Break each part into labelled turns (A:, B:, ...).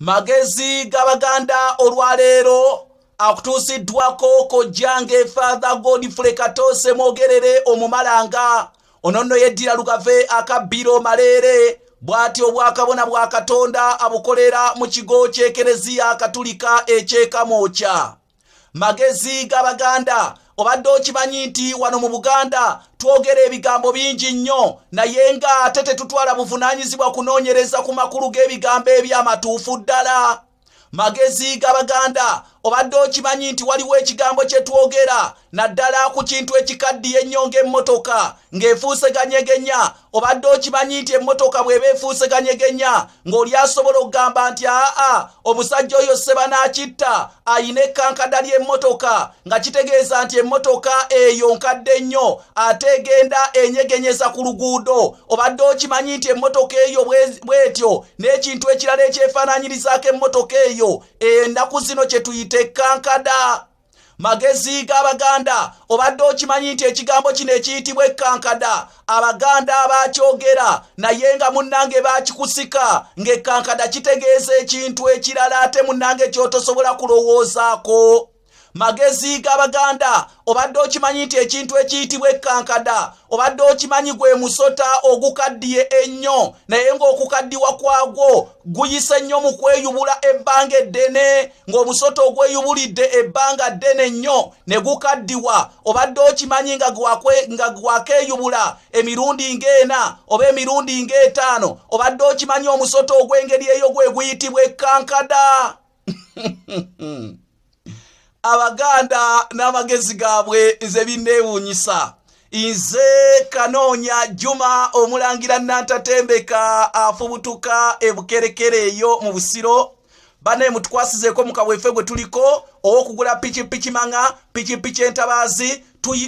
A: magezi g'abaganda olwaleero akutuusiddwako kojjange fatha godfrey katoose mwogerere omumalanga ono nno yeddira lugave akabbiro maleere bw'ati obwakabona bwa katonda abukolera mu kigo ky'ekereziya katulika ekyekamwokya magezi g'abaganda obadde okimanyi nti wano mu buganda twogera ebigambo bingi nnyo naye nga ate tetutwala buvunaanyizibwa kunoonyereza ku makulu g'ebigambo eby'amatuufu ddala magezi g'abaganda obadde okimanyi nti waliwo ekigambo kye twogera naddala ku kintu ekikaddiye ennyo ng'emmotoka ng'efuuseganyegenya obadde okimanyi nti emmotoka bw'eba efuuse kanyegenya ng'oli asobola okugamba nti aa omusajja oyo sebanaakitta ayina ekkankada ly'emmotoka nga kitegeeza nti emmotoka eyo nkadde nnyo ate egenda enyegenyeza ku luguudo obadde okimanyi nti emmotoka eyo bw'etyo n'ekintu ekirala ekyefaananyirizaako emmotoka eyo ennaku zino kye tuyita ekkankada magezi g'abaganda obadde okimanyi nti ekigambo kino ekiyitibwa ekkankada abaganda abaakyogera naye nga munnange baakikusika ng'ekkankada kitegeeza ekintu ekirala ate munnange ky'otosobola kulowoozaako magezi g'abaganda obadde okimanyi nti ekintu ekiyitibwa ekkankada obadde okimanyi gwe musota ogukaddiye ennyo naye ng'okukaddiwa kwagwo guyise nnyo mu kweyubula ebbanga eddene ng'omusota ogweyubulidde ebbanga ddene nnyo ne gukaddiwa obadde okimanyi nga gwakeeyubula emirundi ng'ena oba emirundi ng'etaano obadde okimanyi omusota ogw'engeri eyo gwe guyitibwa ekkankada abaganda n'amagezi gaabwe nze binneewuunyisa nze kanoonya juma omulangira nantatembeka afubutuka ebukerekere eyo mu busiro banaye mutukwasizeeko mukabwefe gwe tuliko owokugula pikipiki maŋa pikipiki entabaazi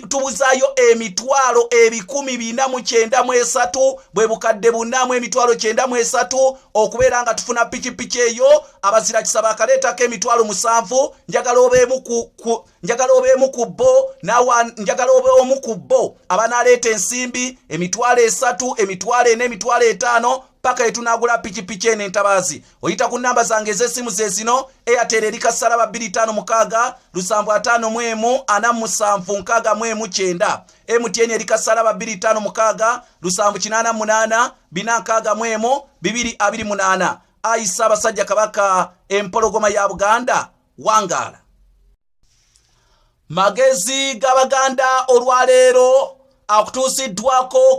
A: tubuzayo emitwalo ebikumi bina mu kyenda mu esatu bwe bukadde bunamu emitwalo kyenda mu esatu okubeera nga tufuna pikipiki eyo abazira kisaba akaleetako emitwalo musanvu njagala obeemu ku njagala obeemu ku bo nawa njagala obeomu ku bo abanaaleeta ensimbi emitwalo esatu emitwalo ena emitwalo etaano paka etunagula pikipiki eno entabaazi oyita ku nnamba zange ez'essimu ze zino airtel eri kasalaba 256 lusanvu ataano mu emu ana musanvu nkaaga mu emu kyenda mtn eri kasalaba 256 lusanvu kinaana munaana bina nkaaga mu emu bibiri abiri munaana ayi ssaabasajja kabaka empologoma ya buganda wangaala magezi g'abaganda olwaleero akutuusiddwako